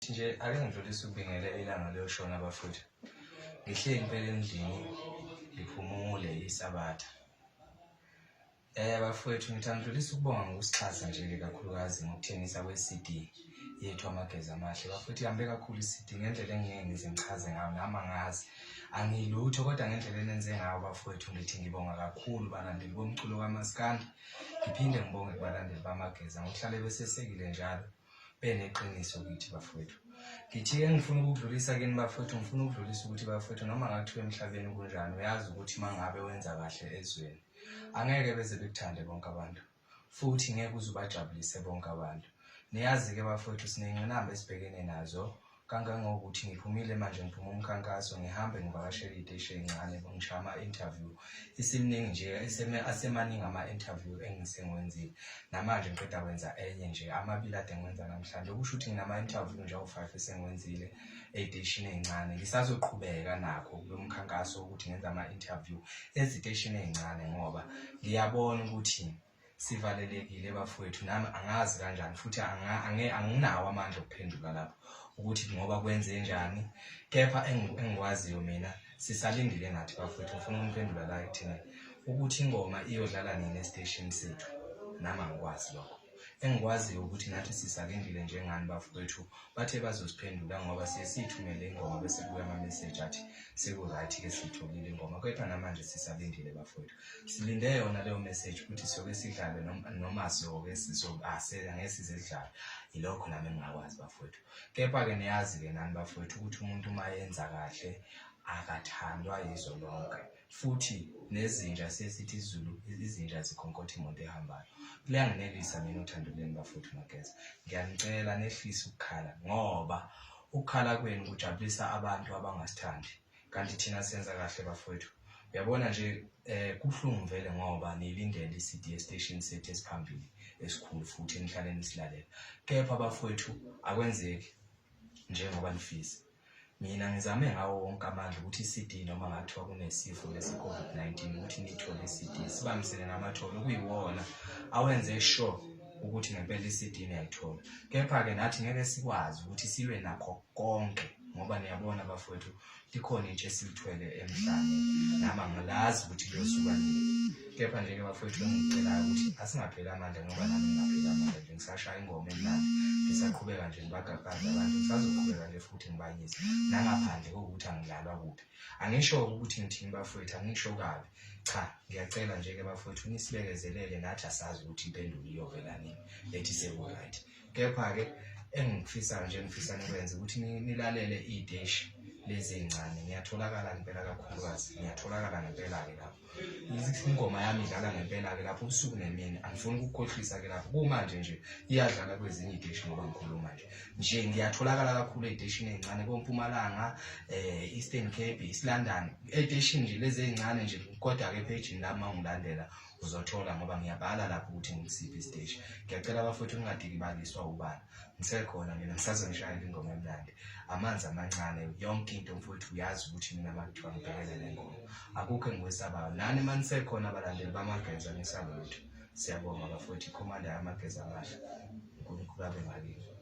nje ake ngidlulise ukubingela ilanga liyoshona bafowethu ngihleli impela endlini ngiphumule isabatha eh bafowethu ngithi angidlulise ukubonga ngokusixhasa nje-ke kakhulukazi ngokuthengisa kwe-cd yethu amagezi amahle bafowethu ihambe kakhulu i-cd ngendlela engingeke ngize ngichaze ngayo nami angazi angilutho kodwa ngendlela enenze ngayo bafowethu ngithi ngibonga kakhulu balandeli bomculo kamaskandi ngiphinde ngibonge kubalandeli bamageza ngokuhlale besesekile njalo beneqiniso kithi bafowethu ngithiye ngifuna ukudlulisa kini bafowethu ngifuna ukudlulisa ukuthi bafowethu noma ngathiwa emhlabeni kunjani uyazi ukuthi uma ngabe wenza kahle ezweni angeke beze bekuthande bonke abantu futhi ngeke uze ubajabulise bonke abantu niyazi-ke bafowethu sinengqinamba esibhekene nazo kangangokuthi ngiphumile manje ngiphuma umkhankaso ngihambe ngivakashele iteshi encane ngisho ama-interview isimningi nje asemaningi ama-interview engisengiwenzile namanje ngiqeda kwenza enye nje amabili ade ngiwenza namhlanje okusho ukuthi nginama-interview nje awu-five esengiwenzile ey'teshini ey'ncane ngisazoqhubeka nakho kulo mkhankaso wokuthi ngenza ama-interview eziteshini ey'ncane ngoba ngiyabona ukuthi sivalelekile bafowethu nami angazi kanjani futhi anginawo amandla okuphendula lapho ukuthi ngoba kwenze njani kepha engikwaziyo mina sisalindile ngathi bafowethu ngifuna umphendula la ekuthini ukuthi ingoma iyodlala nini estation sethu nami angikwazi lokho engikwaziyo ukuthi nathi sisalindile njengani bafowethu bathe bazosiphendula ngoba siye siyithumele ingoma bese kubuya ama-message athi seku-right-ke siyitholile ingoma kepha namanje sisalindile bafowethu silinde yona leyo message ukuthi siyoke sidlale noma siyoke sizobaseka ngeke size sidlale yilokho nami engingakwazi bafowethu kepha-ke niyazi-ke nani bafowethu ukuthi umuntu uma yenza kahle akathandwa yizo lonke futhi nezinja sesithi izulu izinja zikhonkotha imoto ehambayo kuyanginelisa mina uthando lwenu bafowethu mageza ngiyanicela nehlise ukukhala ngoba ukukhala kwenu kujabulisa abantu abangasithandi kanti thina senza kahle bafowethu uyabona nje eh kubuhlungu vele ngoba nilindele iCD station sethu esiphambili esikhulu futhi enihlale nisilalela kepha bafowethu akwenzeki njengoba nifisa mina ngizame ngawo wonke amandla ukuthi iCD noma ngathiwa kunesifo lesi COVID-19 ukuthi nithole iCD sibambisene namatholo kuyiwona awenze sure ukuthi ngempela iCD niyayithola kepha ke nathi ngeke sikwazi ukuthi silwe nakho konke ngoba niyabona bafowethu likhona into esilithwele emhlabeni nami angilazi ukuthi kuyosuka nini kepha nje-ke bafowethu engicelayo ukuthi asingapheli amandla ngoba nami ngingapheli amandla nje ngisashaya ingoma emnandi ngisaqhubeka nje ngibagaqaze abantu ngisazoqhubeka nje futhi ngibayise nangaphandle kokuthi angilalwa kuphi angisho ukuthi ngithini bafowethu angisho kabi cha ngiyacela nje-ke bafowethu nisibekezelele nathi asazi ukuthi impendulo iyovela nini lethi seku-right kepha-ke engikufisayo nje ngifisa nikwenze ukuthi nilalele iy'teshi lezi ey'ncane ngiyatholakala ngempela kakhulukazi ngiyatholakala ngempela-ke lapho ingoma yami idlala ngempela-ke lapho ubusuku nemini angifuni ukukukhohlisa-ke lapho kumanje nje iyadlala kwezinye iy'teshi ngoba ngikhuluma nje nje ngiyatholakala kakhulu ey'teshini ey'ncane kompumalanga um eastern cape east london ey'teshini nje lezi ey'ncane nje kodwa-ke ephejini lami uma ngilandela uzothola ngoba ngiyabhala lapho ukuthi ngisiphi isiteshi ngiyacela abafowethu ningadikibaliswa ubala ngisekhona mina ngisazonishayela ingoma emnandi amanzi amancane yonke into mfowethu uyazi ukuthi mina makuthiwa ngibhekele le ngoma akukho engikwesabayo nani uma nisekhona abalandeli bamageza nisalutho siyabonga bafowethu ikhomanda yamageza amahle unkulunkulu abe ngakini